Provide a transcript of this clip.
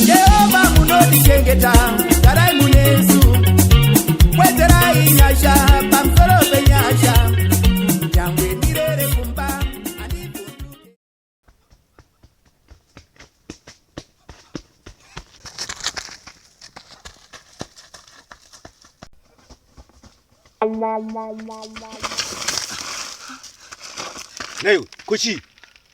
Jehovah munodichengeta garai munesu kwezerai nyasha pamusoro penyasha nyangwe ndirere kumba Nayo kuchii?